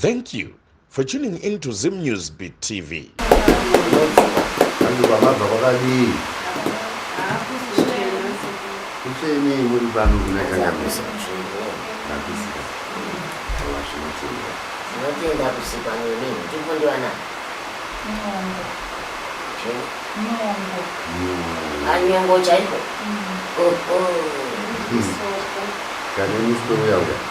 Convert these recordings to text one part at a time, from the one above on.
Thank you for tuning in to Zim News Beat TV. Nyongo chaiko. Kane misoro yauya.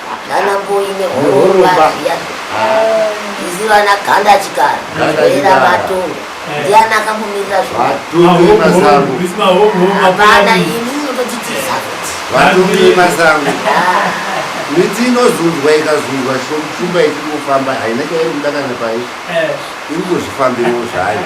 nana mboyi nehoromba zviya izi vana ganda chikara era matongo ndiana akamumirira zvoapana ini unototitiza kuti vatumire masango miti inozunzwa ikazunzwa shumba ichikufamba haina chairi kuda kana pai iri kuzvifambirawo zvayo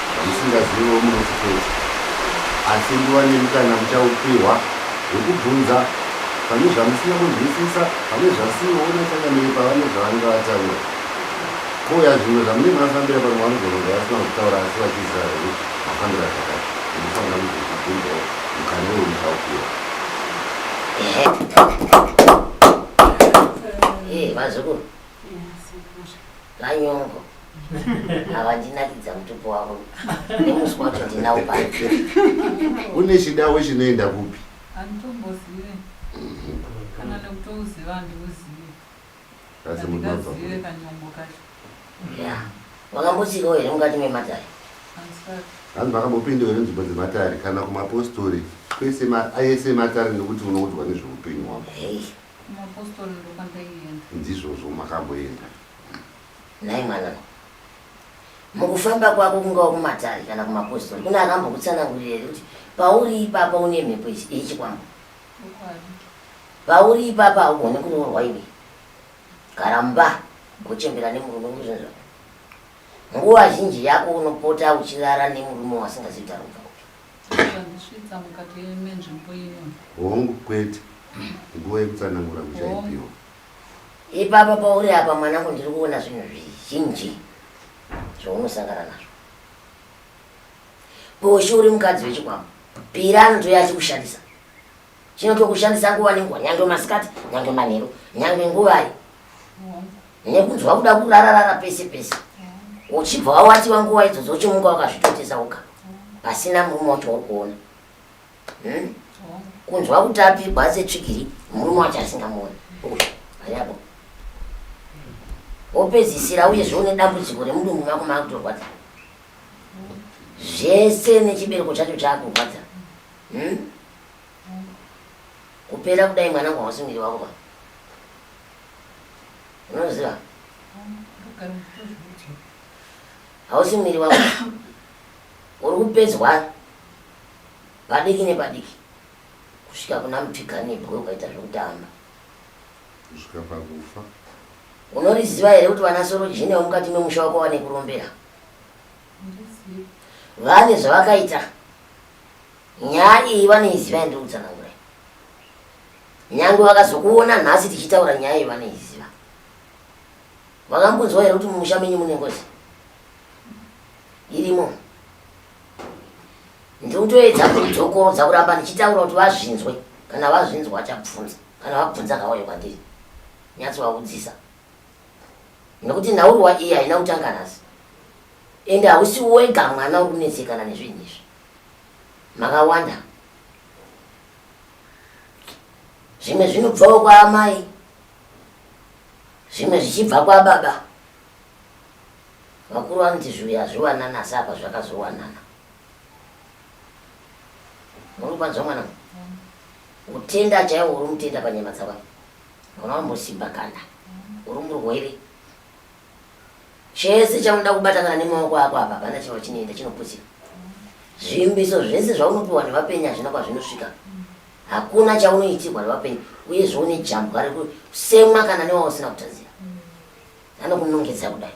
zvisingaziviwo munoti kuti asi nguva nemukana muchaupiwa wekubvunza pane zvamusina kunzwisisa pane zvasiona changamiri pavane zvavanenge vataura koya zvimwe zvamunenge mafambira pamwe vanogona vasina kutaura asi vachiziva here mafambira zvakati munofanira kuzozvibvunzawo mukana uyo muchaupiwa vazukuru Manyongo ava vandinakidza mutupo wavo nemuswa wacho ndinawo pati. Une chidawe chinoenda kupi? Handitombozive kana nekutouziva handiuzive. Asi munobva kupi? Kanyongo kacho. Ya, wakambotsikawo here mukati mematare? Handisati. Vanhu vakambopinda here nzvimbo dzematare kana kumapostori kwese ma- ayese matare nekuti unoudzwa nezveupenyu hwako? Hei, Mapostori ndokwandaienda. Ndizvozvo makamboenda. Nhai mwanangu. Mukufamba kwako kungava kumatare kana kumapostori kune akambokutsanangurira here kuti pauri ipapa une mhepo yechikwambo? Pauri ipapa haugone kuroorwa iwe. Gara mumba gochembera nemurume kuzvinzva. Nguva zhinji yako unopota uchirara nemurume wasingazivi tarobva. Zvandisvitsa mukati menzvimbo ino. Hongu kwete. Nguva yekutsanangura muchaipiwa. Ipapa pauri apa mwanangu ndiri kuona zvinhu zvizhinji zvaunosangana nazvo. Poshi uri mukadzi wechikwambo. Pira anotouya achikushandisa. Chinoto kushandisa nguva nenguva nyange masikati nyange manheru nyange nguvai nekunzwa kuda kurararara pese pese uchibva wawatiwa nguva idzo dzochimuka wakazvitotesa uka pasina murume wacho uri kuona hmm? kunzwa kuti apigwa asetsvigiri murume wacho asingamuoni ariapo wopedzisira uye zvoune dambudziko remudumbu mako maakutorwadza zvese nechibereko chacho chaakurwadza Hmm? Kupera kudai mwana wangu hausi muviri wako mwana. Unoziva? Hausi muviri wako. Uri kupedzwa padiki nepadiki kusvika kuna mutikanibwe ukaita zvekutamba. Kusvika pakufa. Unoriziva here kuti vana Sorojini vemukati memusha wako vane kurombera? Vane zvavakaita. Nyaya iyi vanoiziva yandiri kutsanangura. Nyangwe vakazokuona nhasi tichitaura nyaya iyi vanoiziva. Vakambunzwa here kuti mumusha menyu mune ngozi? Irimo. Ndiri kutoedza kudzokorodza kuramba ndichitaura kuti vazvinzwe. Kana vazvinzwa vachabvunza. Kana vabvunza ngavauye kwandiri. Nyatso vakudzisa. nekuti nhaurwa iyi haina kutanga nhasi ende hausi wega mwana uri kunetsekana nezvinhu izvi makawanda zvimwe zvinobvawo kwaamai zvimwe zvichibva kwababa vakuru vanoti zviuya hazviwanana asi apa zvakazowanana muri kwanzwa mwana kutenda chaiwo uri mutenda panyama dzakwa Wambosimba kana uri murwere chese chaunoda kubata kana nemaoko ako apa hapana chiro chinoenda chinoputsira zvimbiso zvese zvaunopiwa nevapenyi hazvina kwazvinosvika hakuna chaunoitirwa nevapenyi uye zvoune jambwa rekusemwa kana newausina kutadzira anokunongedza kudai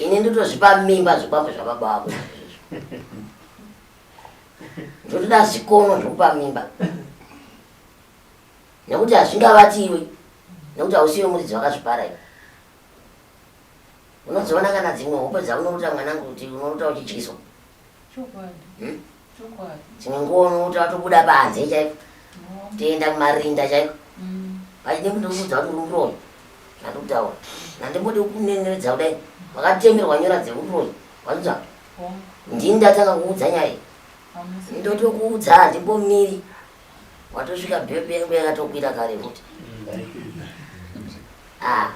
ini ndotozvipa mimba zvikwambo zvababa vako ndotoda zvikono zvokupa mimba nekuti hazvingavati iwe nekuti hausiwe muridzi wakazvipara iwe unozoona kana dzimwe hope dzaunorota mwanangu kuti unorota uchidyiswa hmm? chinongoona kuti atobuda panze chaiko toenda kumarinda chaiko pachide mm. kundiudza kuti ururoyi zvandikutaura nandimbode kuneneredza kudai wakatemerwa nyora dzeuroyi wanzwa ndini ndatanga kuudza nyaya ndotokuudza handimbomiri watosvika bhebhe yangu yakatokwira kare kuti ah.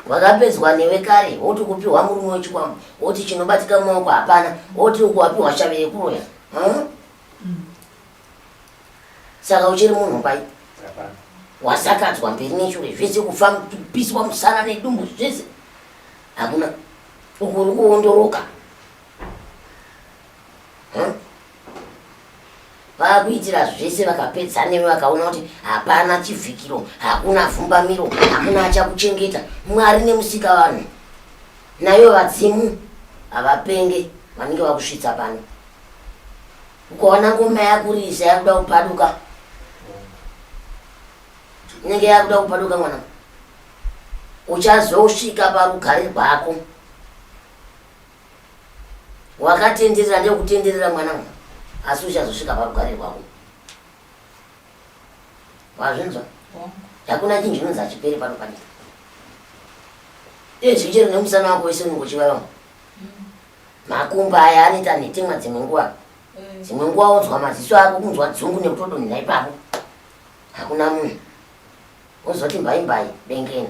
wakapedzwa newe kare woti kupiwa murume wechikwambo woti chinobatika mumaoko hapana woti uku wapiwa shave yekuroya hmm? saka uchiri munhu pai wasakadzwa mberi neshure zvese kufa kupiswa musana nedumbu zvese hakuna uku uri kuondoroka hmm? vakuitira zvese vakapedza newe vakaona kuti hapana chivhikiro hakuna fumbamiro hakuna achakuchengeta mwari nemusika vanhu nayo vadzimu havapenge vanenge vakusvitsa pano ukaona ngoma yakurisa yakuda kupaduka inenge yakuda kupaduka mwana uchazosvika parugare rwako wakatenderera ndekutenderera mwana uyu asi uchazosvika parugare rwako wazvinzwa hakuna chinhu chinonzi hachiperi pano panika iye chii chero nemusana wako wese unenge uchivava makumba aya anoita nhetemwa dzimwe nguva mm. dzimwe nguva wonzwa maziso ako kunzwa dzungu nekutodonhera ipapo hakuna munhu wozoti mbaimbai bengeni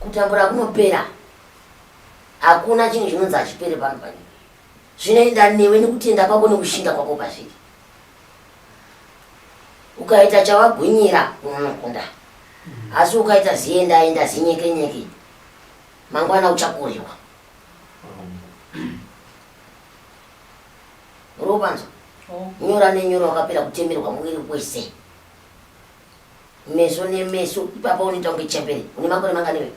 kutambura kunopera hakuna chinhu chinonzi hachipere pano panyika zvinoenda newe nekutenda kwako nekushinga kwako pazviri ukaita chawagwinyira unokunda asi ukaita ziendaenda zinyekenyeke mangwana uchakuriwa robanzo nyora nenyora wakapera kutemerwa muviri wese meso nemeso ipapa unoita kunge chembere une makore mangani iwe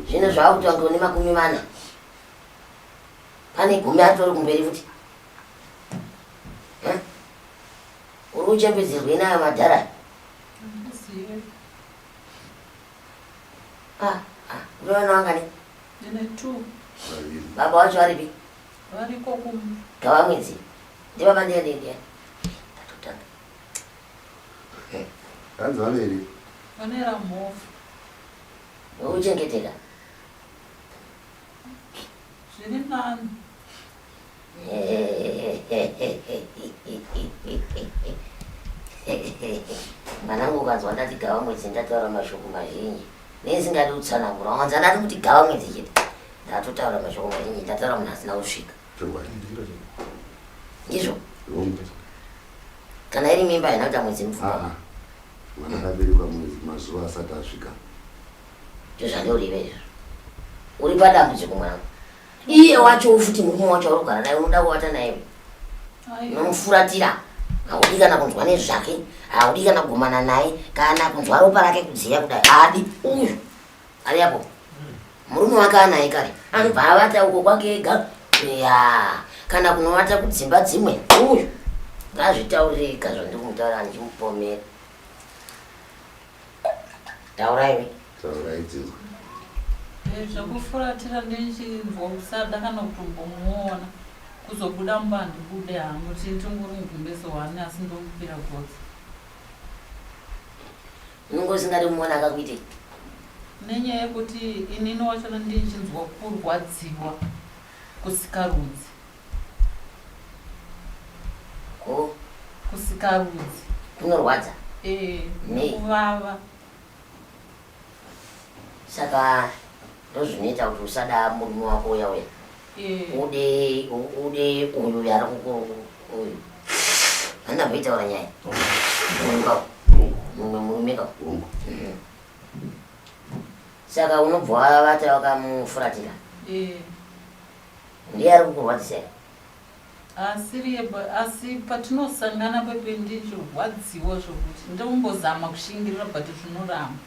zvino zvaakuti wange une makumi mana pane gumi atori kumberi futi uri kuchembedzerwei nayo madhara ah, ah, unoona wangani baba wacho aripi Variko kumba. Gava mwedzi. Ndiva mandiya ndiya ndiya. Tatotanga. Eh, hanzi vaviri. Vane ramhofu. Uchengeteka. Zviri nani. Mwanangu ukanzwa ndati gava mwedzi ndataura mashoko mazhinji. nezingadi kutsanangura wanza ndati kuti gava mwedzi chete ndatotaura mashoko mazhinji ndataura munhu asina kusvika ndizvo kana iri mimba haina kuita mwedzi mupfuma ah, ah. mwana akaberekwa mwedzi mazuva asati asvika ndozvandiurive izvo uri padambudziko mwangu iye wacho ufuti murume wacho aurugara naye unoda kuvata naye nomufuratira haudi kana kunzwa nezvake haudi kana kugumana naye kana kunzwa ropa rake kudziya kudai haadi uyu ari apo murume wake anaye kare anobva avata uko kwake ega ya kana kunovata kudzimba dzimwe uyu ngazvitaurire ika zvandiri kumutaura ndichimupomera tauraiwe taurai dzinza Eh, zvekufuratira ndichinzwa kusada kana kutombomuona kuzobuda mumba handibude hangu chii tingori mugumbezi wani asi ndomupira gotsi unenge usingadi kumuona akakuitei nenyaya yekuti inini wacho ndichinzwa kurwadziwa kusikarudzi Ko kusikarudzi kunorwadza eh Nei? kuvava saka ndozvinoita kuti usada murume wako uya uya eh ude u- ude uyu uya ari kuku uyu handamboitaura nyaya uyu kako mumwe murume kako Hongu. Mhm. saka unobva wavata wakamufuratira eh Ndiye ari kukurwadzisei? Asiriye ba asi patinosangana babe ndichirwadziwa zvokuti ndombozama kushingirira but zvinoramba.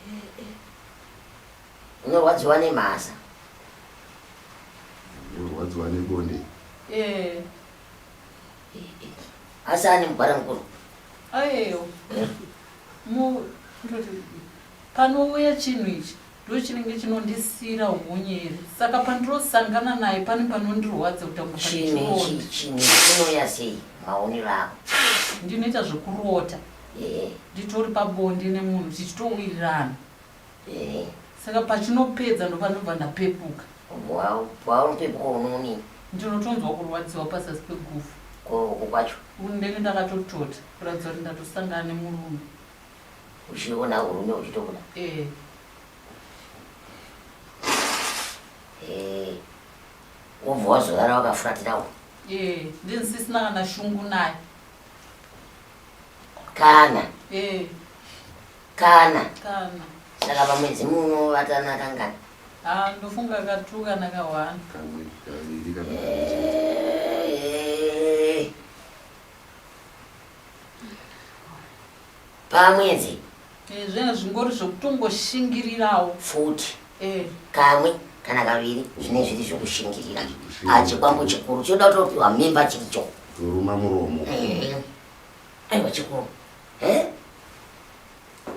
Eh, eh. Unorwadziwa nemhasa. Unorwadziwa nebonde. Eh. Asi ane mugwara mukuru. Ayeyo. Mu ndoti panouya chinhu ichi ndochinenge chinondisiira hunye here saka pandirosangana naye pane panondirwadza kutamuainoya sei maonero ako ndinoita zvekurota eh. nditori pabonde nemunhu tichitowirirana eh. saka pachinopedza ndopanobva ndapepuka paunopepuka unoni ndinotonzwa kurwadziwa pasasi pegufu kwacho ndenge ndakatotota kuratidza kuti ndatosangana nemurume Uchiona urume uchitobuda. Eh. Eh. Wobva wazorara wakafuratira uko. Eh, ndinsisina kana shungu naye. Kana. Eh. Kana. Kana. Saka pamwedzi muno vatana kangani? Ah, ndofunga katu kana kawana. Kamwe kaviri kana. Eh. pamwedzi Eh, zvinhu zvingori zvokutongoshingirirawo futi Eh, kamwe kana kaviri zvine zviri zvokushingirira Kushingirira. Ah, chikwambo chikuru chinoda kutopiwa mimba chiricho kuruma muromo Eh, aiwa chikuru Eh?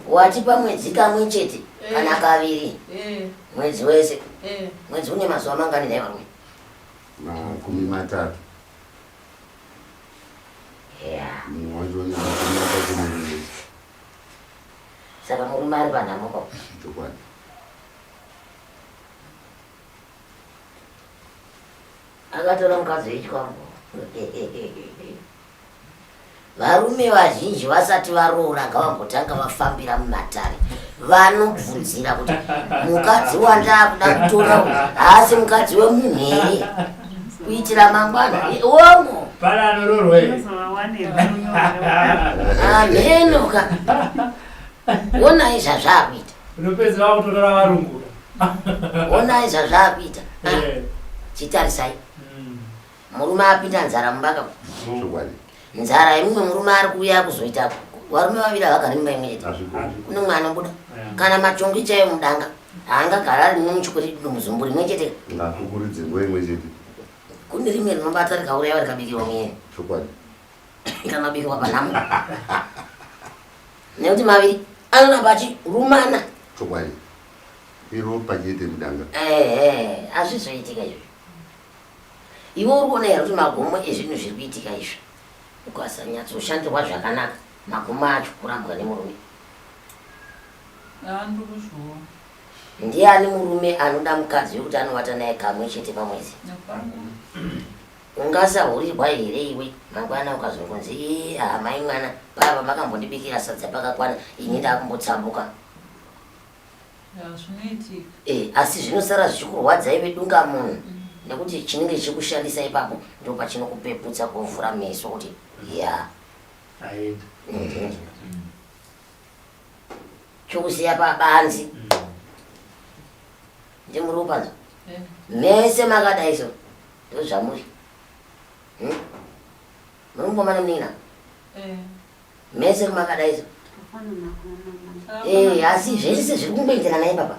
wati pamwedzi kamwe chete Eh. kana kaviri eh, mwedzi wese eh. mwedzi une mazuva mangani nhai varume makumi matatu munhu wacho vanaaaakunoii saka murume ari panhamo ko chokwadi akatora mukadzi wechikwangu Varume vazhinji vasati varoora ngavambotanga vafambira mumatare vanobvunzira kuti mukadzi wandaakuda kutora haasi mukadzi wemunhu here kuitira mangwana wongo amhenoka wonai zvazvaakuita wonai zvazvaakuita eh. chitarisai Murume apinda nzara mumba ka. Chokwadi. Nzara yemumwe murume ari kuuya kuzoita varume vaviri havagari mumba imwe chete. Kune mumwe anobuda. Kana matongi chaiyo mudanga haangagara ari mumwe muchikuri muzumbu rimwe chete. Ngakukuridze nguva imwe chete. Kune rimwe rinobata rikauraya rikabikirwa muyeni. Chokwadi. Ikanobikirwa panhamo. Nekuti maviri anoramba achirumana. Chokwadi. Iro pachete mudanga. Eh eh azvizoitika izvi. Iwe uri kuona here kuti magumo ezvinhu zviri kuitika izvi ukasanyatsooshandirwa zvakanaka magumo acho kurambwa nemurume ndiani murume anoda mukadzi wekuti anovata naye kamwe chete pamwedzi ungasahurirwa here iwe mangwana ukazongonzi ee hamai mwana pava makambondibikira sadza pakakwana ini ndakumbotsambuka Eh, asi zvinosara zvichikurwadzai vedunga munhu mm. nekuti chinenge chichikushandisa ipapo ndo pachinokupeputsa kuvhura meso kuti ya mhm. chokusiya pabanzi mm. ndimuri upanza eh. mese makadai so ndozvamuri hmm? muri mukomana munina eh. Mese kumakadaizo. Eh, asi zvese zviri kungoenderana naye baba.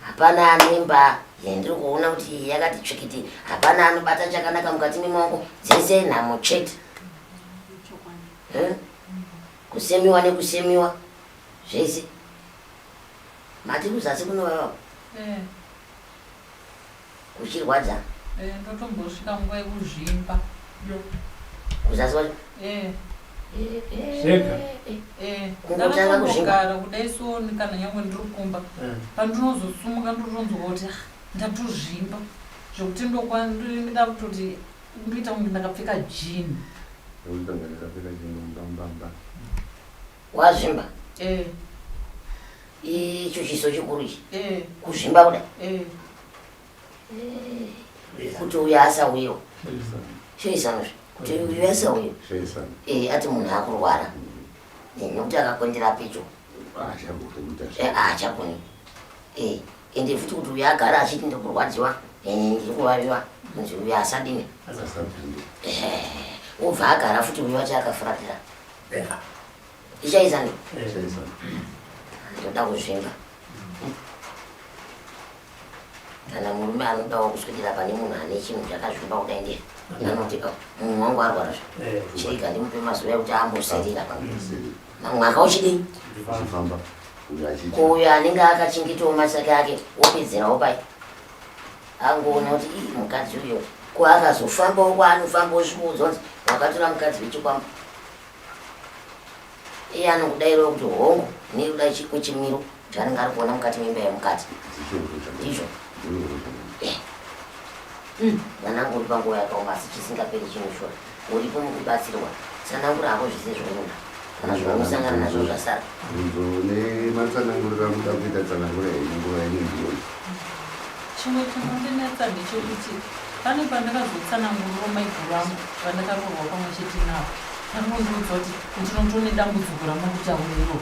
Hapana anemba yendiri kuona kuti yakati tsvikiti. Hapana anobata chakanaka mukati memaoko dzese nhamo chete. Eh? Kusemiwa nekusemiwa zvese. Mati kuzasi kunovava. Eh. Kuchirwadza. Eh ndotombosvika nguva yekuzvimba. Kuzasi wacho? Eh. Zvega. Eh. Kungotanga kuzvimba. Ndakambogara kudai so kana nyangwe ndiri kumba. Eh. Pandinozosumuka ndotonzwa kuti ah, ndatozvimba. Zvekuti ndokwa ndinda kutoti ndoita kunge ndakapfeka jean. Ndakapfeka jean mbambamba. Wazvimba? Eh. Icho chiso chikuru ichi. Eh. Kuzvimba kuda. Eh. eh. Kuti uya asa uyo. Shoisano. Kuti uya asa uyo. Shoisano. Eh, ati munhu akurwara. Eh, nokuti akakondera picho. Ah, eh, ah, chakuni. Eh, ende futi kuti uya agara achiti ndikurwadziwa. Eh, ndikuvaviwa. Nzi uya asadini. Asadini. Eh, ubva agara futi uya achaakafuratira. Bheka. Ichaisa ne? Ichaisa. Ndoda kuzvimba. Kana murume anodawo kuswedera pane munhu ane chinhu chakazvimba kudai ndiye. Anoti oh, munhu wangu arwara zve. Eh, Chirika ndimupe mazuva ekuti amboserira pa. Mwaka uchidii? Uchifamba. Uyo anenge akachengetawo masaka ake wopedzerawo pai. Angoona kuti ii mukadzi uyo ko akazofambawo kwaanofamba osvika udzwa kuti wakatora mukadzi wechikwambo. Iye anokudairawo kuti hongu nekuda chiko chimiro chaanenge ari kuona mukati memba yemukadzi. Ndizvo. Mwanangu uri panguva yakaoma asi chisingaperi chinoshora. Uripo mukubatsirwa, tsanangura hako zvese zvaunoda kana zvaunosangana nazvo zvasara. Bvunzo nematsananguriro amuda kuita tsanangura henyu nguva yenyu ndiyoyi. Chimwe chinondinetsa ndechekuti pane pandakazotsananguriro maiguru vangu vandakaroorwa pamwe chete navo ndakondiudza kuti ndinoto nedambudziko ramurikutaura iro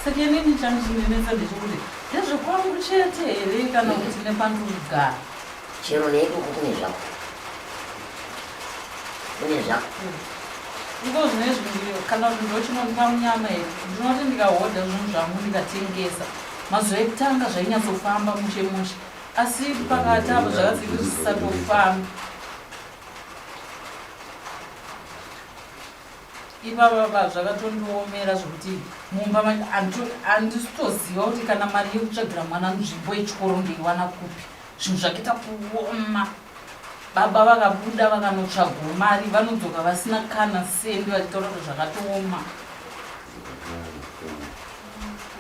saka inini changu chinonetsa ndechekuti ndezvekwangu chete here kana kuti nepandurigara Chero nedu uku kune zvako. Kune zvako. Ngo zvinezvi ndiyo kana kuti ndochinonwa munyama here ndinoti ndikahodha zvinhu zvangu ndikatengesa mazuva ekutanga zvainyatsofamba mushe mushe asi pakati apo zvakazenge zvisisatofambi ivavava zvakatondiomera zvekuti mumba handisitoziva kuti kana mari yekutsvagira mwana nzvimbo yechikoro ndeiwana kupi Zvinhu zvakaita kuoma. Baba vakabuda vakanotsvagwa mari vanodzoka vasina kana sendi vachitaura kuti zvakatooma.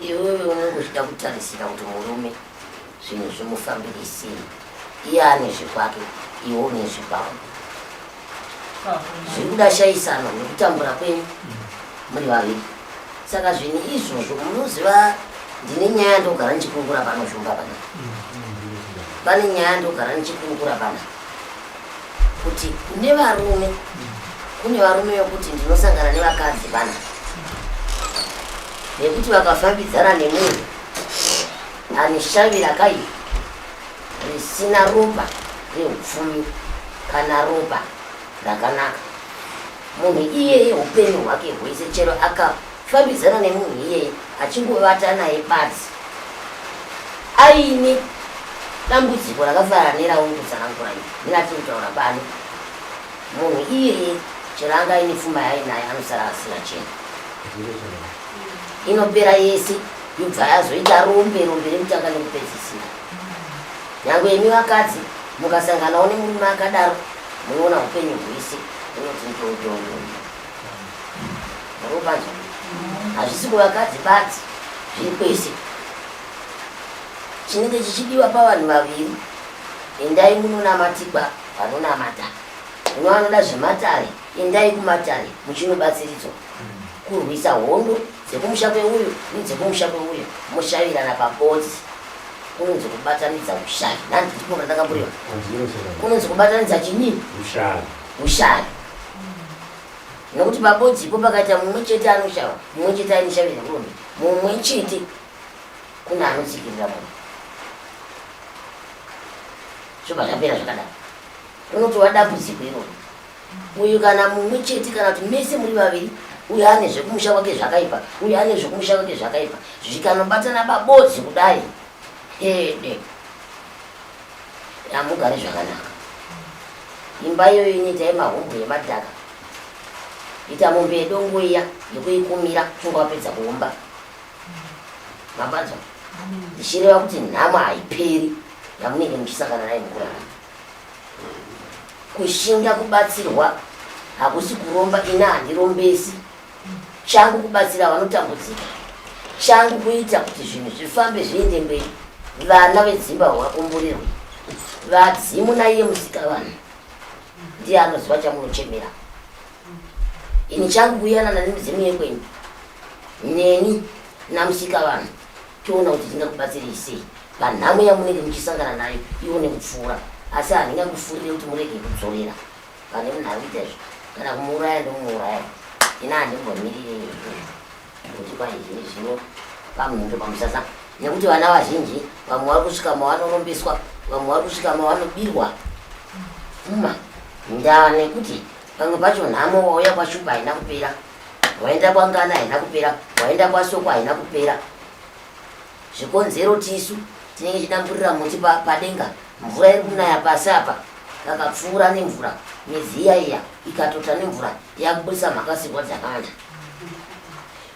Iwewe unongozvida kutarisira kuti murume zvinhu zvimufambire sei? Iye ane zvekwake, iwe une zvekwako. zvekuda shaisano nekutambura kwenyu muri vaviri saka zvinhu izvozvo munoziva ndine nyaya ndogara ndichikungura pano zvumba pana pane nyaya ndogara ndichikungura pana kuti kune varume kune varume vekuti ndinosangana nevakadzi pana nekuti vakafambidzana nemunhu anishavira kaipa risina ropa reupfumi kana ropa rakanaka munhu iyeye upenyu hwake hwese chero akafambidzana nemunhu iyeye achingovata naye badzi aine dambudziko rakafanana nerauri kutsanangura i ndinati kutaura pano munhu iyeye chero anga aine pfuma yaye naye anosara asina chena inopera yese yobva yazoita rombe rombe rekutanga nekupedzisira Nyangwe imi vakadzi mukasanganawo nemurume akadaro munoona hupenyu hwese unoti ndododo arobanja hazvisi kuvakadzi badzi zviri kwese chinenge chichidiwa pavanhu vaviri endai munonamatigwa vanonamata uno anoda zvematare endai kumatare muchinobatsiridzwa kurwisa hondo dzekumusha kweuyo nedzekumusha kweuyo moshavirana pakodzi kunonzi kubatanidza ushavi nhani ndikona ndakamburiwa kunonzi kubatanidza chinii ushavi nokuti pabodzipo pakaita mumwe chete anoshava mumwe chete ainoshavira kurume mumwe chete kune anotsikirira munhu zvobva zvapera zvakadaro unoti wadambudziko iroro Uyu kana mumwe chete kana kuti mese muri vaviri uyu ane zvekumusha kwake zvakaipa uyu ane zvekumusha kwake zvakaipa zvikanobatana babodzi kudai hede hamugari zvakanaka imba iyoyo inoita yemahombo yemadhaka ita mombe yedongo iya yekuikumira chunga wapedza kuumba mabanzwa ndichireva kuti nhamo haiperi yamunenge muchisangana naye mukurara Kushinga kubatsirwa hakusi kuromba ini handirombesi changu kubatsira vanotambudzika changu kuita kuti zvinhu zvifambe zviende mberi vana vedzimba vakumburirwa vadzimu naiye musika vanhu ndiye anoziva chamunochemera ini changu kuyanana nemidzimu yekwenyu neni namusika vanhu toona kuti tingakubatsirei sei panhamo yamunenge muchisangana nayo ione kupfuura asi handingakufurire kuti murege kudzorera pane munhu ari kuita izvo kana kumuuraya ndomuuraya ina handimbomirire kuti kwaizvini zvino pamhindo pamusasa nekuti vana vazhinji vamwe vari kusvika mavanorombeswa vamwe vari kusvika mavanobirwa uma ndaa nekuti pamwe pacho nhamo wauya kwashupa haina kupera waenda kwangana haina kupera waenda kwasoko haina kupera zvikonzero tisu tinenge chidamburira muti padenga mvura iri kunaya pasi apa kakapfuura nemvura miziya iya ikatota nemvura yakubudisa mhakasirwa dzakawanda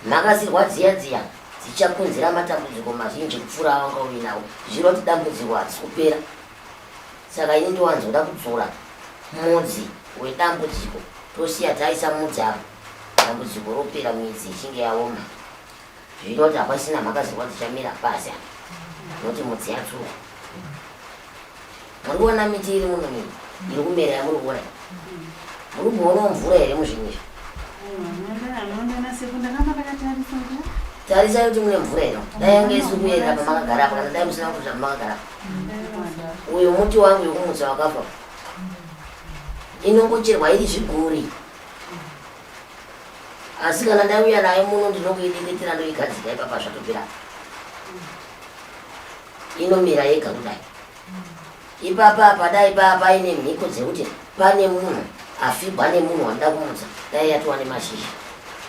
mhakasirwa dziya dziya dzichakonzera matambudziko mazhinji kupfuura awanga uinawo zvinoti dambudziko hadzisi kupera Saka ini ndowanzo kuda kudzora mudzi wedambudziko tosiya taisa mudzi apa dambudziko ropera midzi ichinge yaoma zvinoita kuti hapasina mhaka dzirwa dzichamira pasi apa nokuti mudzi yatsuka muri kuona miti iri muno mii iri kumera yamuri kuona muri kuonawo mvura here muzvinhu izvi tarisai kuti mune mvura ino dai yange isi kuenda pamakagara apa kana dai musina kuti zvamakagara apa uyo muti wangu yokumutsa wakafa inongocherwa iri zviguri asi kana ndauya nayo muno ndinongoideketera ndoigadzika ipapa zvatopira inomira yega kudai ipapa padai paa paine mhiko dzekuti pane munhu afigwa nemunhu wandida kumutsa dai yatova nemashizha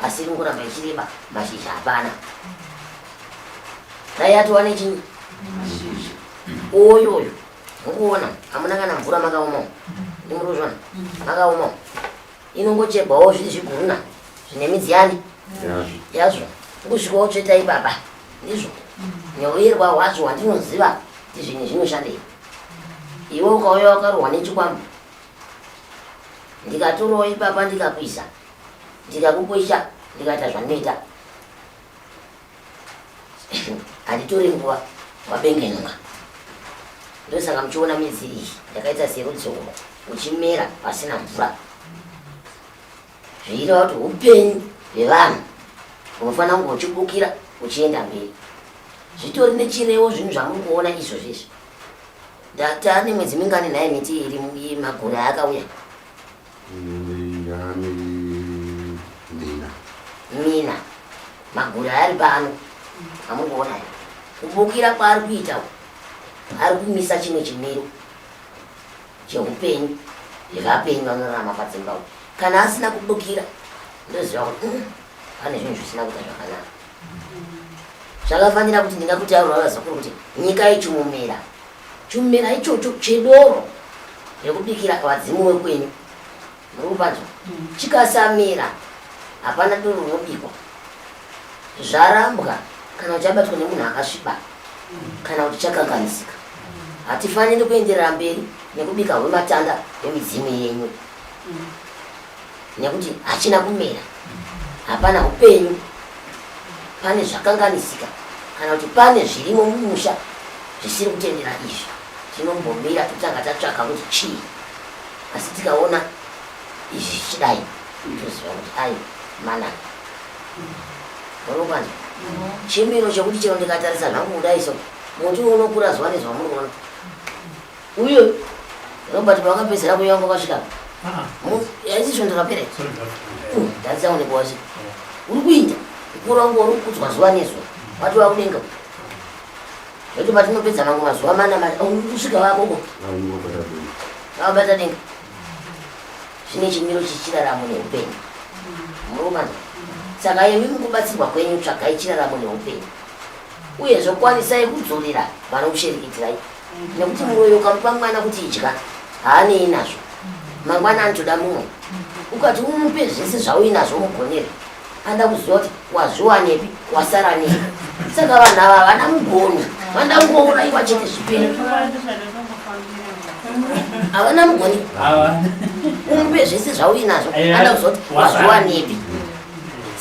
asi iri ngoramba ichireba mashizha hapana dai ati wane chii oyo oyo mukuona hamuna kana mvura makaomawo ndimuruzvana makaomawo inongochegwawo zvii zviguruna zvine midzi yani yazvo kusvikawo tsvetai baba ndizvo neuyerwa hwacho hwandinoziva kuti zvinhu zvinoshandei iwe ukauya wakarohwa nechikwambo ndikatorowo ipapa ndikakuisa ndikakukwesha ndikaita zvandinoita handitore nguva wabengenuka ndosaka muchiona midzi iyi yakaita serudzoko uchimera pasina mvura zviireva kuti upenyu hwevanhu unofanira kunge uchibukira uchienda mberi zvitori nechirewo zvinhu zvamuri kuona izvo zvizvi ndata nemwedzi mingani nhaye miti iri magore akauya Mina. Mina. Magura ari pano. Amukuona here? Kubukira kwaari kuita uko. Ari kumisa chimwe chimiro cheupenyu zvevapenyu vanorarama padzimba uko. Kana asina kubukira ndoziva kuti mm, pane zvinhu zvisina kuita zvakanaka. Zvakafanira kuti ndingakutaurira vazukuru kuti nyika yechimumira Chimera ichocho chedoro rekubikira vadzimu wekwenyu murikunzwa chikasamera hapana doro rinobikwa zvarambwa kana kuti chabatwa nemunhu akasviba kana kuti chakanganisika hatifaniri kuenderera mberi nekubika hwematanda hwemidzimu yenyu nekuti hachina kumera hapana upenyu pane zvakanganisika kana kuti pane zvirimo mumusha zvisiri kutendera izvi tinombomira totanga tatsvaka kuti chii asi tikaona izvi zvichidai toziva kuti ai manaka unokwanza chimiro chekuti chero ndikatarisa zvangu kudai so muti unokura zuva nezvamuri kuona Uyo Robert wakapedzera kuyanga kwasvika. Ah. Yaisi svondo rapera. Uh, Tatsa une kwasvika. Uri kuita mukuru wangu uri kudzwa zuva nezuva. Wati wakudenga. Zvoti patinopedza mangu mazuva mana mati oh, uri kusvika vakoko. Vabata denga. Zvine chimiro chichiraramo neupenyu. Murumana. Saka yemi mukubatsirwa kwenyu tsvagai chiraramo neupenyu. Uyezve kwanisai kudzorera vanokuchereketirai nekuti mwoyo ukamupa mwana kuti idya haanei nazvo mangwana anotoda mumwe ukati umupe zvese zvauinazvo mugonere anoda kuziva kuti wazviwanepi wasara nei saka vanhu ava havana mugoni vanoda kungouraiwa chete zvipere havana mugoni umupe zvese zvauinazvo anoda kuziva kuti wazviwanepi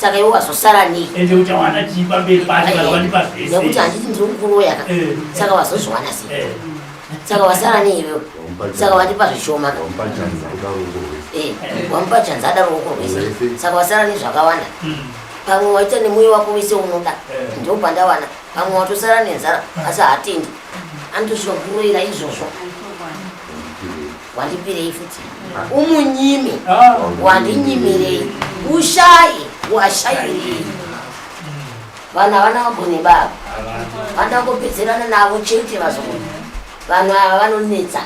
saka iwe wazosara nei ende uchawana chii pamberi pacho kana wandipa zvese nekuti handiti ndiri kukuroya ka eh. saka wazozviwana sei eh. saka wasara nei iwewe saka wandipa zvishoma ka wamupa chanzi ada ruoko rwese eh. saka wasara nei zvakawanda hmm. pamwe waita nemuyo wako wese unoda ndo pandawana pamwe watosara nenzara asi hatendi anotosvika kuroira izvozvo wandipirei futi umunyime wandinyimirei ushaye washayirei vanhu havana vagone baba vanoda kupedzerana navo chete vazogona vanhu ava vanonetsa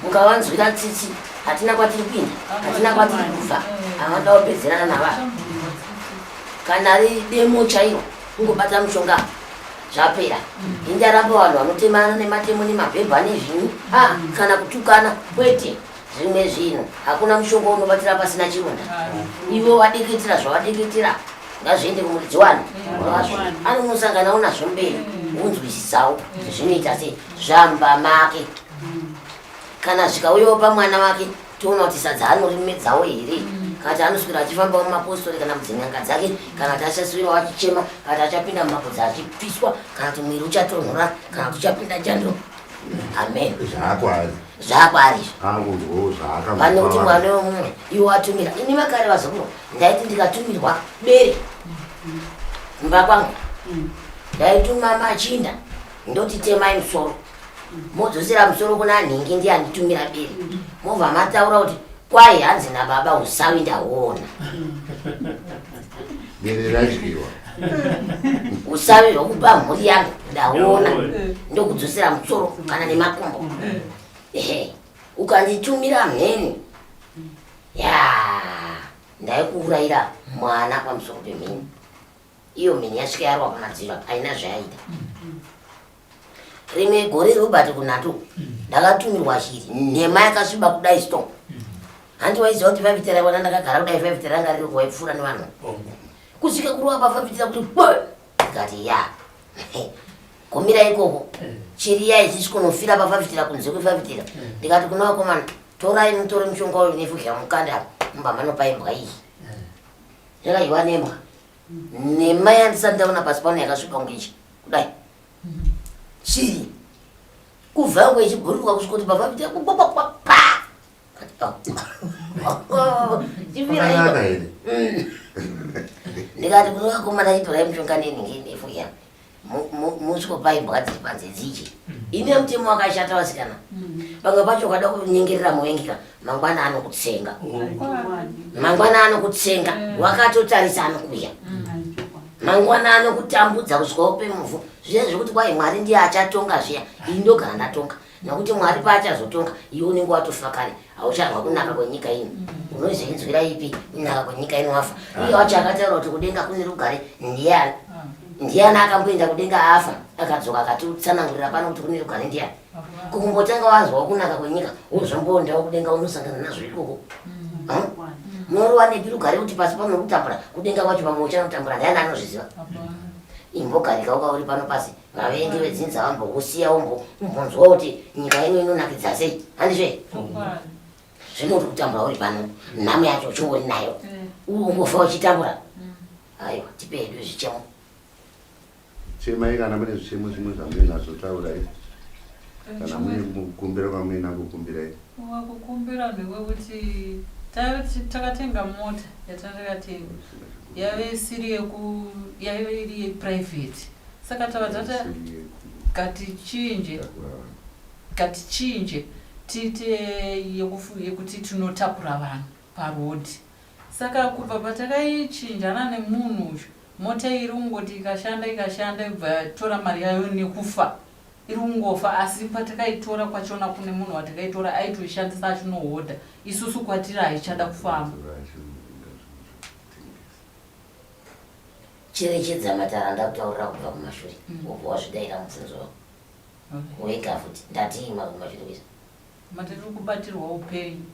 mukavanzwira tsitsi hatina kwatiri kuinda hatina kwatiri kubva avanoda kupedzerana navavo kana ri demo chairo kungobata mushonga zvapera indaramba vanhu vanotemana nematemo nemabhebha nezvinyi a kana kutukana kwete zvimwe zvinhu hakuna mushonga unobatira pasina chironda ivo vadikitira zvavadikitira ngazviende kumuridzi wani anonosanganawo nazvo mberi unzwisisawo zvinoita se zvamba make kana zvikauyawo pamwana wake toona kuti sadza anorimedzawo here mm. kana kuti anoswira achifambawo mumapostori kana mudzin'anga dzake kana kuti achaswirawo achichema kana kuti achapinda mumabodza achipiswa kana kuti mwiri uchatonhora kana kuti uchapinda chando amen zvaakwari zvaakwari izvovane kuti mwana wemumwe iwo watumira ini vakare vazokuro ndaiti ndikatumirwa bere kumba kwangu mm. ndaituma machinda ndoti temai musoro modzosera musoro kuna nhingi ndiye anditumira biri mobva mataura kuti kwai hanzi nababa usawi ndaona biri radyiwa usawi hwekupa mhuri yangu ndaona ndokudzosera musoro kana nemakumbo ehe ukanditumira mheni ya ndaikuurayira mwana pamusoro pemheni iyo mheni yasvika yarwa pamadziro haina zvayaita rimwe gore robert kunato ndakatumirwa shiri nhema yakasviba kudai sto hanti waiziva kuti vavitira ivona ndakagara kudai vavitira ranga riri kuvaipfuura nevanhu kusvika kuruwa pavavitira kuti ikati ya kumira ikoko chiri ya ichisi kunofira pavavitira kunze kwevavitira ndikati kuna vakomana torai mutore mushonga uyu nefuzha mukanda mubamanopa imbwa iyi ndakaiwa nembwa nhema yandisati ndaona pasi pano yakasvipa kunge ichi kudai chii kubva yangu ichibhururuka kusvika kuti baba kuti yakubobokwa pa ndikati kune vakomana itorai mushonga nenhingi ndefu ya musiko paimbwa dziri panze dziji mm. ine mutemo wakashata vasikana mm. pamwe pacho ukada kunyengerera muvengika mangwana anokutsenga mangwana anokutsenga mm. wakatotarisa anokuya mangwana anokutambudza kusvika upe muvhu zviya zvekuti kwai mwari ndiye achatonga zviya ini ndogara ndatonga Nokuti Mwari paachazotonga, iwe unenge watofa kare, hauchanzwa kunaka kwenyika ino. Mm. Unozoinzwira ipi kunaka kwenyika ino wafa? Ah. Iye wacho akataura kuti kudenga kune rugare ndiyani? Ah. Ndiyani akamboenda kudenga afa akadzoka akatitsanangurira pano kuti kune rugare ndiyani? Kukumbotanga wanzwa kunaka kwenyika, wozvomboondawo kudenga unosangana nazvo ikoko. Mm. Morowa nepi rugare kuti pasi pano kutambura, kudenga kwacho pamwe uchanotambura, ndiyani anozviziva? Imbogarika ukauri pano pasi. vavengi vedzinza vambokusiya umbonzwa kuti nyika yenyu inonakidza sei handizve zvinoti kutambura uri pano nhamo yacho uchingori nayo mm. ungofa uchitambura mm. aiwa tipe hedu zvichemo chemai kana mune zvichemo zvimwe zvamuinazvo taurai kana mune mukumbira kwamuina kukumbirai Wakukumbira newe kuti takatenga mota yatatakatenga yave isiri yeku yaive iri yeprivate saka tava tata katichinje katichinje tiite yekuti tinotakura vanhu parhodhi saka kubva patakaichinjana nemunhu uyu mota iri kungoti ikashanda ikashanda ibva yatora mari yayo nekufa iri kungofa asi patakaitora kwachona kune munhu watakaitora aitoishandisa achinohodha isusu kwatiri haichada kufamba cherechedza matara ndakutaurira kubva kumashure mm. ubva wazvidaira mubvunzo wako wega futi ndatii makumashure kuisa matiri kubatirwa upenyu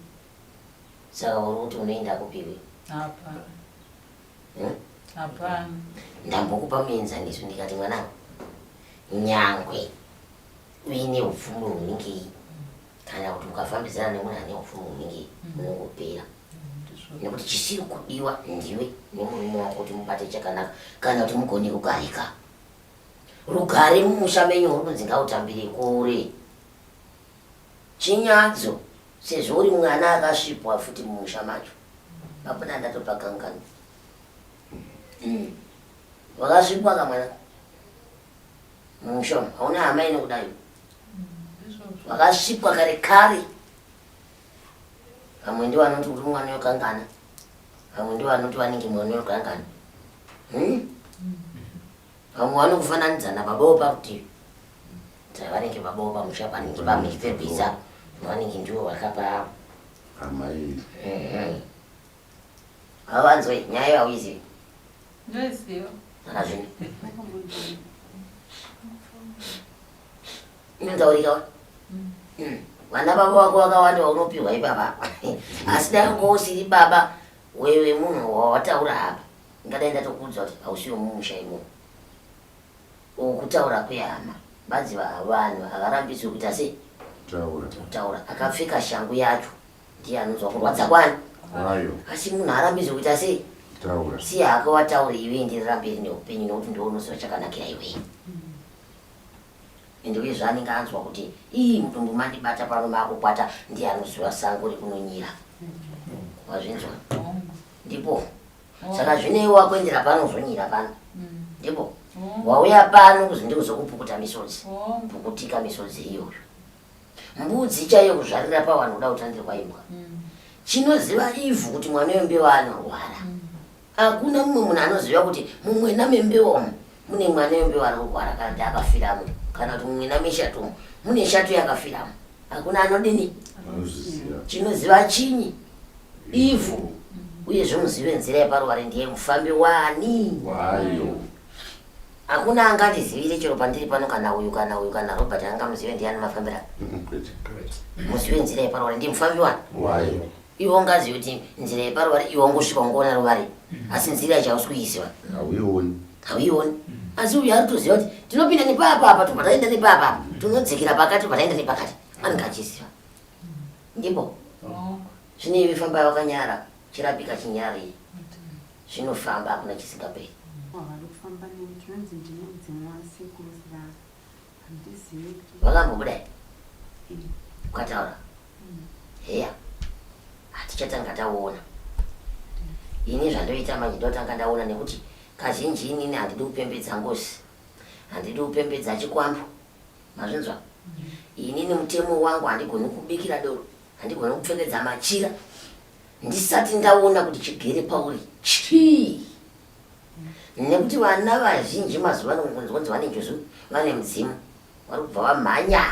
Saka uri kuti unoenda kupiwi? Hapana. Hmm? Hapana. Ndambokupa muenzaniso ndikati mwana nyangwe uine upfumi hunenge kana kuti ukafambidzana nemunhu ane upfumi hunenge hmm. unongopera hmm, nekuti chisiri kudiwa ndiwe nemurume wako kuti mubate chakanaka kana kuti mugone kugarika rugare mumusha menyu uri kunzi ngautambire kure Chinyadzo sezvo uri mwana akasvipwa futi mumusha macho hapana ndatopa kangano mm. wakasvipwa kamwana mumusha hauna hama inokudayo wakasvipwa kare kare vamwe ndivo vanoti uri mwana yokangana vamwe ndivo vanoti vanenge mwana yokangana hmm? Vamwe vanokufananidza nababa weparutivi saka vanenge baba wepamusha panenge pamechipepisa vanenge ndivo vakapa amai mhm. avanzwe nyaya yauizivi ndoiziva akazvini inonzaurikawa mm. mm. vana baba wako vakawanda vaunopihwa ipapa asi dai unga usiri baba wewe munhu wawataura apa Ndingadai ndatokuudza kuti hausi wemumusha imomo. Uku kutaura kwehama. Badzi vanhu havarambidzwe kuita sei? Taura. Kutaura. Akapfeka shangu yacho ndiye anonzwa kurwadza kwani? Kwayo. Asi munhu haarambidzwe kuita sei? Taura. Siya hako wataure iwe enderera mberi neupenyu nekuti ndiwe unoziva chakanakira iwee ende uye zvaanenge anzwa kuti ii mutumbu mandibata pano maakukwata ndiye anoziva sango rekunonyira wazvinzwa ndipo oh. saka zvinei wakuendera pano uzonyira pano mm. ndipo oh. wauya pano kuzi ndikuzokupukuta misodzi oh. pukutika misodzi iyoyo mbudzi chaiyo kuzvarira pavanhu kuda kutandirwa imbwa mm. chinoziva ivhu kuti mwana wembewa anorwara mm. hakuna mumwe munhu anoziva kuti mumwena membewa umu mune mwana yombe wari kurwara kana kuti akafiramo kana kuti mumwe nameshatomo mune shato yakafiramo hakuna anodini chinoziva chinyi ivhu uye zvomuzive nzira yeparuware ndiye mufambi wani wayo hakuna angandizivire chero pandiri pano kana uyu kana uyu kana robert angamuzive ndiyani mafambira muzive nzira yeparuware ndiye mufambi wani wayo iwe ungazive kuti nzira yeparuvari iwe wangosvika ungoona ruvari mm. asi nzira yacho hausi kuiziva hauioni hauioni mm. asi uyu ari kutoziva kuti tinopinda nepapa apa tobva taenda nepapa apa mm. tinodzikira pakati tobva taenda nepakati anenge achiziva ndipo oh. zvine iwe famba wakanyara chirapika chinyari zvinofamba hakuna chisingaperi oh, wakambobuda hmm. ukataura hmm. heya hatichatanga taona ini zvandoita manje ndotanga ndaona nekuti kazhinji inini handidi kupembedza ngozi handidi kupembedza chikwambo mazvinzwa hmm. inini mutemo wangu handigoni kubikira doro handigoni kupfekedza machira ndisati ndaona kuti chigere pauri chii nekuti vana vazhinji mazuva ano kunzi kunzi vane njuzu vane mudzimu vari kubva vamhanya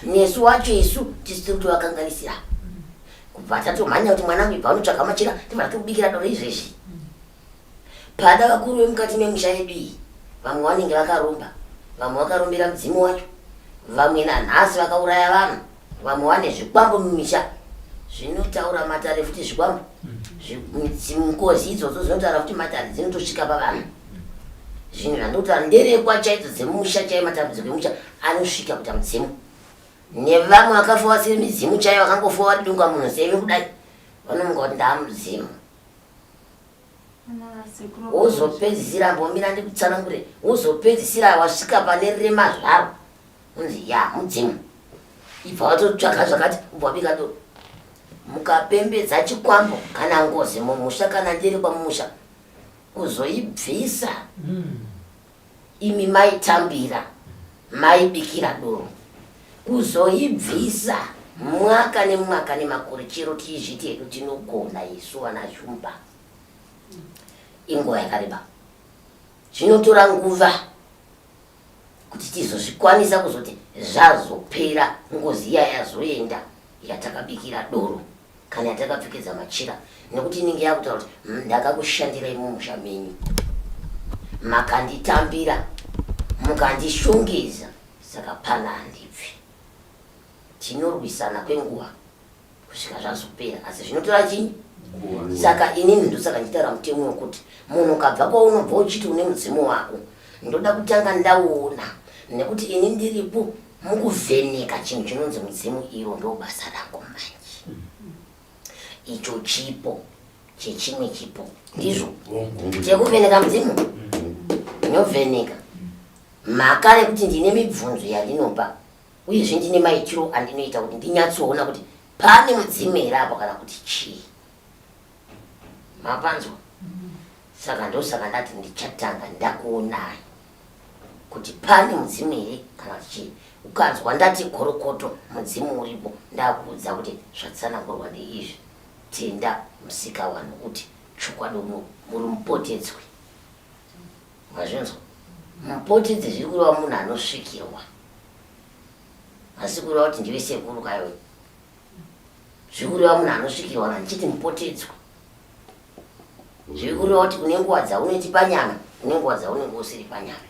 nesu wacho isu tisi tiri kuti vakanganisira kubva tatomhanya kuti mwana angu ibva anotsvaga machira tibva tikubikira doro izvezvi pada vakuru vemukati memusha yedu iyi vamwe vanenge vakaromba vamwe vakarombera mudzimu wacho vamwe nanhasi vakauraya vanhu Vamwe vane zvikwambo mumisha zvinotaura matare futi zvikwambo ngozi idzodzo dzinotaura kuti matare dzinotosvika pavanhu zvinhu zvandotaura nderekwa chaidzo dzemusha chaiyo matambudziko emusha anosvika kuta mudzimu nevamwe vakafa vasiri midzimu chaiyo vakangofa vari dunga munhu seve kudai vanomuka kuti ndaamudzimu wozopedzisira mbomira ndikutsanangure wozopedzisira wasvika pane rema zvaro unzi ya mudzimu ibva watotsvaga zvakati ubva wabika do mukapembedza chikwambo kana ngozi mumusha kana ndiri kwamusha kuzoibvisa mm. Imi maitambira maibikira doro kuzoibvisa mwaka nemwaka nemakore chero tichizviti hedu tinogona isu vana shumba inguva yakareba zvinotora nguva kuti tizozvikwanisa kuzoti zvazopera ngozi iya yazoenda yatakabikira doro kana takapfekedza machira nekuti inenge yakutaura kuti hmm, ndakakushandirai mumusha menyu makanditambira mukandishongedza saka pana handibvi tinorwisana kwenguva kusvika zvazopera asi zvinotora chii saka inini ndosaka nditaura mutemo wekuti munhu ukabva kwaunobva uchiti une mudzimu wako ndoda kutanga ndaona nekuti ini ndiripo mukuvheneka chinhu chinonzi mudzimu iro ndo basa rako manje icho chipo chechimwe chipo ndizvo chekuvheneka mudzimu ndinovheneka mhaka nekuti ndine mibvunzo yandinopa uyezve ndine maitiro andinoita kuti ndinyatsoona kuti pane mudzimu here apo kana kuti chii mapanzwa saka ndosaka ndati ndichatanga ndakuonai kuti pane mudzimu here kana kuti chii ukanzwa ndati gorokoto mudzimu uripo ndakuudza kuti zvatsanangurwa ndeizvi tenda musika vanhu kuti chokwadi uno muri mupotedzwi mazvinzwa mupotedzi zviri kureva munhu anosvikirwa asi kureva kuti ndive sekuru kayo zviri kureva munhu anosvikirwa na ndichiti mupotedzwi Ndiri kureva kuti kune nguva dzaunoti panyama, kune nguva dzaunenge usiri panyama.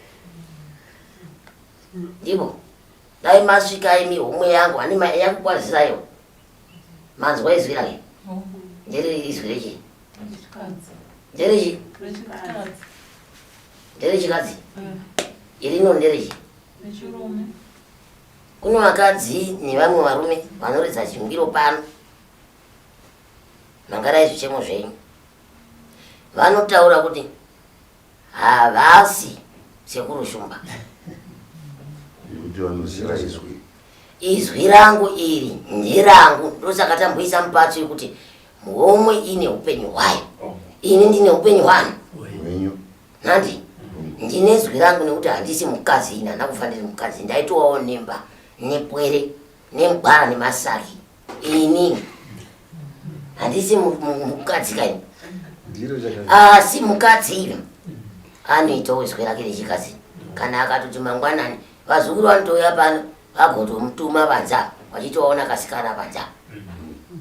Ndipo dai masvika imi homwe yangu ane mai yakukwaziraiwo manzwa izwi rake ndiri izwi rechi nderechi nderechikadzi irino nderechi kune vakadzi nevamwe varume vanoridza chingiro pano mangarai zvichemo zvenyu vanotaura kuti havasi sekuru shumba izwi rangu iri nderangu ndosaka tamboisa mupato yekuti homwe ine upenyu hwayo ini ndine upenyu hwani nandi ndine zwi rangu nekuti handisi mukadzi ini handina kufaniri mukadzi ndaitowawo nemba nepwere nemugwara nemasaki ini handisi mukadzi kai asi mukadzi iri anoitawo zwi rake rechikadzi kana akatoti mangwanani vazukuru vanotouya pano vagotomutuma vanza vachitovaona kasikana vanza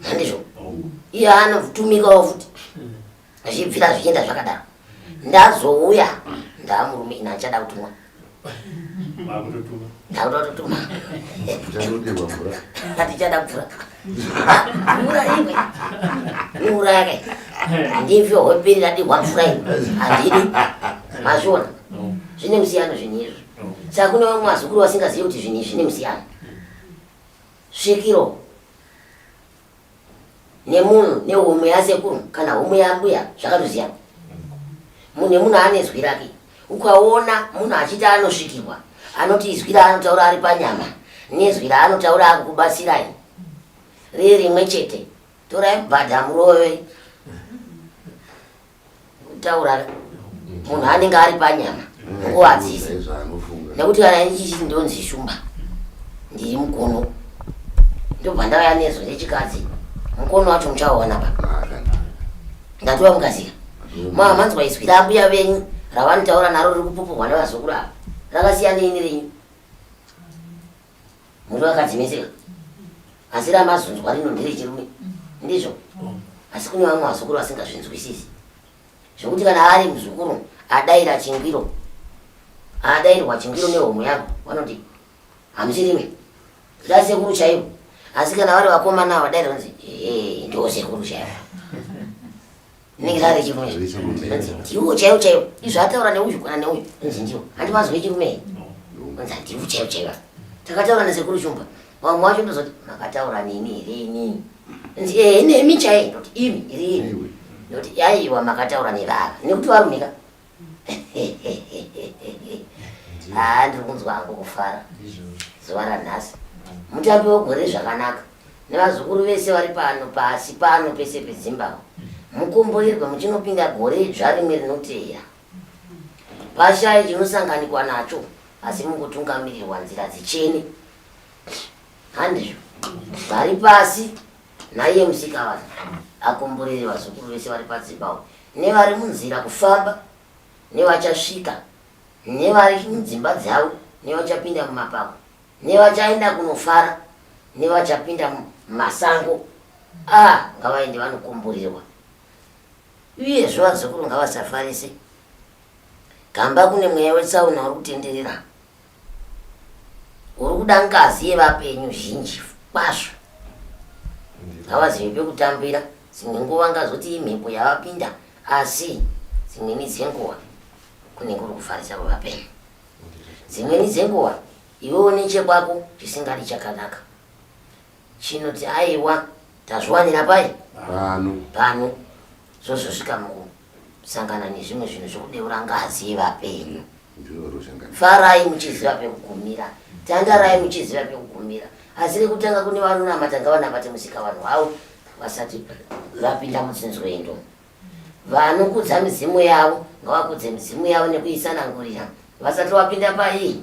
handizvo iye anotumikawo futi zvichibvira zvichienda zvakadaro ndazouya ndaamurume ina achada kutumwa ndakutototuma atichada mvura mvura imwe mvura yake ndivyo hopiri radihwa mvura imwe handidi mazviona zvine musiyano zvinhu izvi saka kune vamwe vazukuru vasingazivi kuti zvinhu izvi zvine musiyano svikiro nemunhu nehomwe yasekuru kana homwe yambuya zvakatosiyana munhu nemunhu ane zwi rake ukaona munhu achiti anosvikirwa anoti izwi raanotaura ari panyama nezwi raanotaura akukubatsirai riri rimwe chete torai bhadha murove taurara munhu anenge ari panyama nguva adzisi nekuti kana ichichi ndonzi shumba ndiri mukono ndobva ndauya nezo rechikadzi mukono wacho muchaoona pa ndatova mukazika maa manzwa izwi rambuya venyu ravanotaura naro riri kupupurwa nevazukuru ava rakasiyanei nerenyu Murume akadzimisira. Asi ramazunzwa rino ndiri chirume. Ndizvo. Asi kune vamwe vazukuru vasingazvinzwisisi. Zvekuti kana ari muzukuru adaira chingwiro. Adairwa chingwiro nehomwe yako vanoti hamusirime. Zda sekuru chaivo. Asi kana vari vakomana vadaira vanzi eh ndio sekuru chaivo. rinenge rave chirume anzi ndiwo chaiwo chaiwo izvo ataura neuyu kana neuyu anzi ndiwo handi mazove chirume anzi handiwo chaiwo chaiwo takataura nasekuru shumba vamwe wacho ndozoti makataura neni here inini anzi ee nemi chaiye ndoti imi here ini ndoti yaiwa makataura nevava nekuti varumika haa ndiri kunzwa hangu kufara zuva ranhasi mutambi wegore zvakanaka nevazukuru vese vari pano pasi pano pese pezimbabwe mukomboirwe muchinopinda gore idzva rimwe rinoteera pashaye chinosanganikwa nacho asi mungotungamirirwa nzira dzichene handizvo vari pasi Naiye Musikavanhu akomborere vazukuru vese vari padzimba uko nevari munzira kufamba nevachasvika nevari mudzimba dzavo nevachapinda mumapako nevachaenda kunofara nevachapinda mumasango a ah, ngavaende vanokomborerwa uyezve vazukuru ngavasafarise gamba kune mweya wetsaona uri kutenderera uri kuda ngazi yevapenyu zhinji kwazvo ngavazive pekutambira dzimwe nguva ngazoti imhepo yavapinda asi dzimweni dzenguva kunenge uri kufarisa kwevapenyu dzimweni dzenguva iwewo nechekwako chisingadi chakanaka chinoti aiwa tazviwanira pai pano pano zvozosvika muku sangana nezvimwe zvinhu zvekudeura ngazi yevapenyu farai muchiziva pekugumira tandarai muchiziva pekugumira asi rekutanga kune vanonamata ngavanamate musika vanhu vavo vasati vapinda mutsinzwendo vanokudza mizimu yavo ngavakudze mizimu yavo nekuisanangurira vasati vapinda paii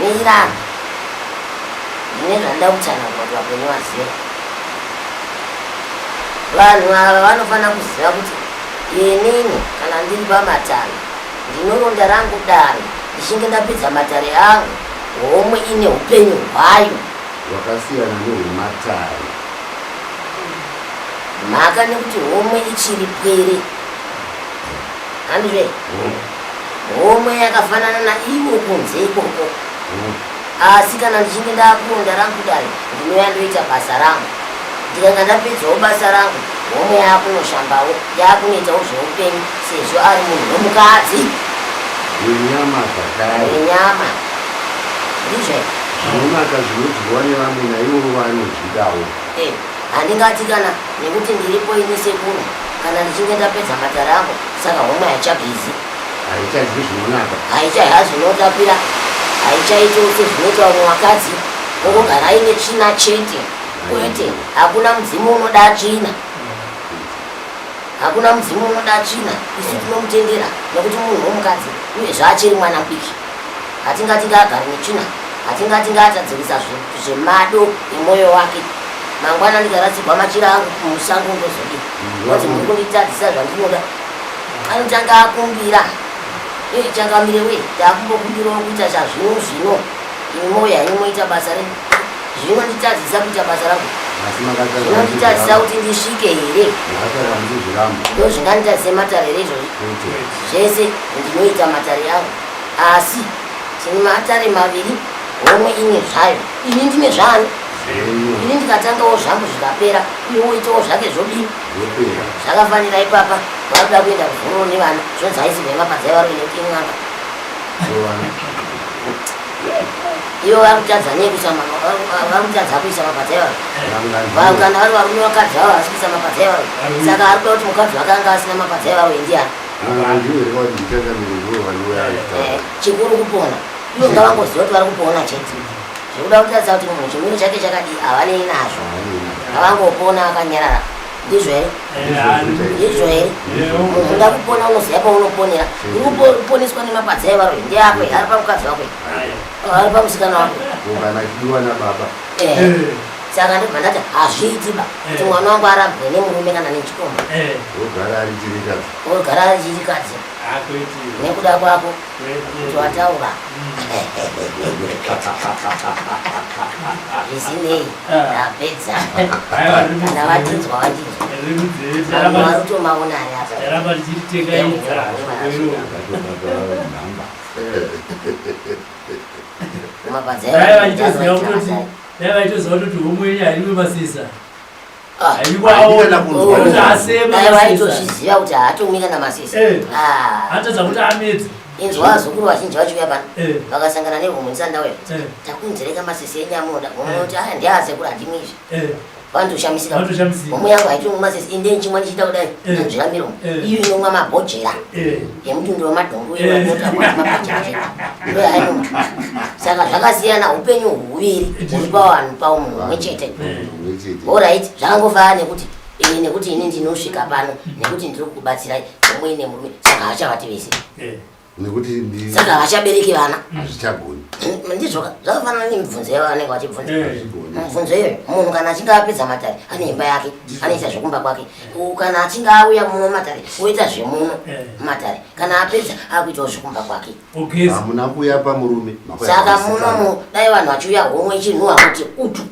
mira ndine zvandida kutsanangura kuti vapenyu vazive vanhu ava vanofanira kuziva kuti inini kana ndiri pamatare ndinoronda rangu dare ndichinge ndapedza matare angu homwe ine upenyu hwayo wakasiyana nehwematare mhaka nekuti homwe ichiri pwere handire homwe yakafanana naivo kunze ikoko asi kana ndichinge ndakuronda rangu kudai ndinouya ndoita basa rangu ndikanga ndapedzawo basa rangu homwe yaakunoshambawo yaakunoitawo zveupenyu sezvo ari munhu wemukadzi wenyama zvakare wenyama ndizve zvinonaka zvinodyiwa nevamwe naivo vanozvidawo eh. Handingatikana nekuti ndiripo ini sekuru kana ndichinge ndapedza matare ako saka homa haichabizi. Haichazwi zvinonaka. Haichaiha zvinotapira. Haichaito sezvinoita vamwe vakadzi vokugara aine tsvina chete. Kwete, hakuna mudzimu unoda tsvina. Hakuna mudzimu unoda tsvina. Isu tinomutendera nekuti munhu womukadzi uye zvaachiri mwana mudiki. Hatingati ngaagare netsvina, hatingati ngaatadzirisa zvemado emwoyo wake. Mangwana ndikaradzigwa machira angu kumusango ndozodi kuti muri kunditadzisa zvandinoda. Anotanga akumbira changamire wee taakumbokumbirawo kuita chazvino zvino imi mwoyo henyu moita basa renyu zvinonditadzisa kuita basa rangu zvinonditadzisa kuti ndisvike here ndozvinganditadzise matare here izvozvi zvese ndinoita matare angu Asi tine maatare maviri, homwe imwe zvayo. Ini ndine zvani? Ini ndikatangawo zvangu zvikapera, uye woitawo zvake zvodini? Zvakafanira ipapa, vari kuda kuenda kuzororo nevana, zvonzi haisi nhema padzai vari kuenda kuti in'anga. Ivo vari kutadza nei kuisa ma- vari- vari kutadza kuisa mapadzai vari. Vanhu kana vari varume vakadzi vavo havasi kuisa mapadzai vari. Saka ari kuda kuti mukadzi wake anga asina mapadzai vari ndiani? chikuru kupona ivo ngavangoziva kuti vari kupona chete zvekuda kutaridza kuti munhu chimiro chake chakadii havanei nazvo ngavangopona akanyarara ndizvo here ndizvo here munhu unoda kupona unoziva paunoponera urikuponeswa nemapadza evaro ndeako ari pamukadzi wako ari pamusikana wako saka ndobva ndati hazviitiba eh. kuti mwana wangu arambwe nemurume kana nechikomba eh. ogara ari chirikadzi ogara ari chirikadzi ah, nekuda kwako kuti wataura zvisinei ndapedza kana vatinzwa vatinzwaautomaona ari apa Dai vaitoziva kuti homwe yenyu hairiwe masesa. Ah, Haikwaona kuti asema Dai masesa. vaitozviziva kuti haatomika namasesa Eh. Ah, Hatadza kuti amedze. inzwa zukuru vazhinji vachiuya pano Eh. vakasangana nehomwe ndisandauya Eh. takunzereka masesa enyu amoda homwe Eh. kuti aya ndiasekuru handimizvi Eh. vanotoshamisa homo yangu haitiri mumasesi ende ndichimwa ndichiita kudai nanzvira miro iyo inomwa mabhojera yemutundo wemadhongo iyo anota mabhojera ndo yainoma saka zvakasiyana upenyu huviri huri pavanhu pavo munhu umwe chete orit zvakangofana nekuti ini nekuti ini ndinosvika pano nekuti ndiri kukubatsirai omwe ine murume saka hachavati vese nekuti ndi saka havachabereki vana hazvichagoni ndizvo zvakafanana nemibvunzo yavo vanenge vachibvunza eh. mibvunzo iyoyo munhu kana achinge apedza matare ane imba yake anoita zvekumba kwake kana achinge auya muno matare oita zvemuno eh. matare kana apedza akuitawo zvekumba kwake hamuna kuya pamurume saka munomu dai vanhu vachiuya homwe chinhu hakuti utu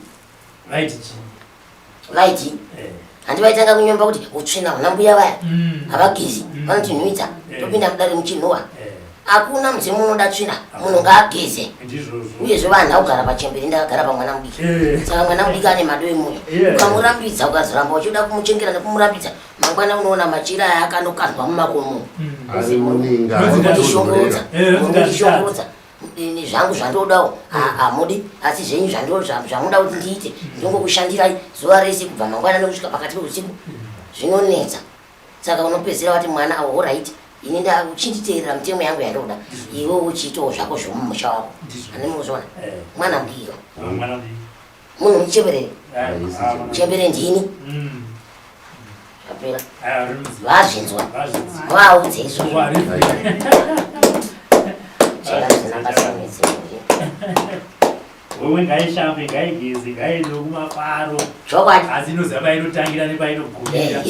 vaiti chii vaiti eh. handi vaitanga kunyomba kuti utsvina una mbuya vaya mm. havagezi mm. vanotinhuidza eh. topinda mudare muchinhuwa eh. hakuna mudzimu unoda tsvina munhu ngaageze uyezve vanhu augara pachemberi ndakagara pamwana mudiki saka mwana mudiki ane mado emunhu ukamurambidza ukazoramba uchida kumuchengera nekumurambidza mangwana unoona machira aya akanokandwa mumakomo mm. muzimu unokushongodza ini zvangu zvandodawo hamudi asi zvenyu zvamuda kuti ndiite ndongokushandirai zuva rese kubva mangwana nekusvika pakati peusiku zvinonetsa saka unopedzera wati mwana awo oraiti ini nda uchinditeerera mitemo yangu yandoda iwe uchiitawo zvako zvomumusha wako andimuzoona eh. mwana mbiyo munhu muchembere muchembere ndini mm. apera vazvinzwa vaudze izvozvo chera zvinambasamidzi wewe ngaishambe ngaigeze ngaiende kumafaro chokwadi asi inoziva painotangira nepainogumira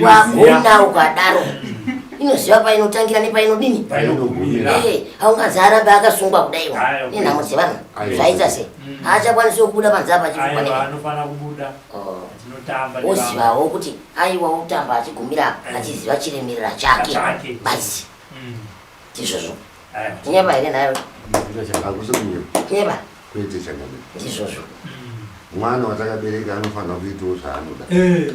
waguna ukadaro inoziva painotangira nepainodini haungazi arambe akasungwa kudaiwa nenhamo dzevanhu zvaita sei mm. haachakwanisi kubuda panze apa achianofanira kubuda oh. tinotamba ozivawo kuti aiwa otamba achigumira apa eh. achiziva chiremerera chake basi mm. ndizvozvo tinyeba here nayo tinyeba kwete chakadai ndizvozvo mm. mwana watakabereka anofanira kuitawo zvaanoda eh.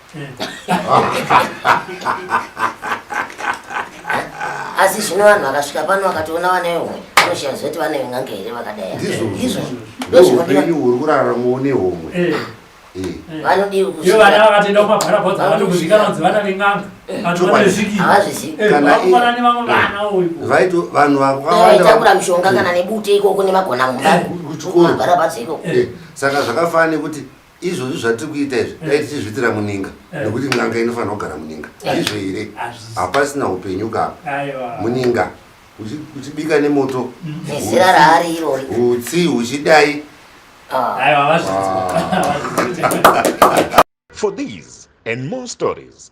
asi zvino vanhu vakasvika pano vakatoona vana vehomwe vanoshiya zoti vana veng'anga here vakadai ndizvo ndozvoupenyu huri kuraramawo nehomwe eh. eh. eh. vanodiwi kuiyo vana vakatoenda kumabharabhodza vanokuzvikana kunzi vana veng'anga vanhu vakatakura mishonga kana nebute ikoko nemagona mumba kuchikoro saka zvakafanana nekuti izvozvi zvatiri kuita izvi dai tichizviitira muninga nekuti n'anga inofanira kugara muninga izvo here hapasina upenyu kapa muninga uchibika nemoto nezira raari irori utsi uchidai for these and more stories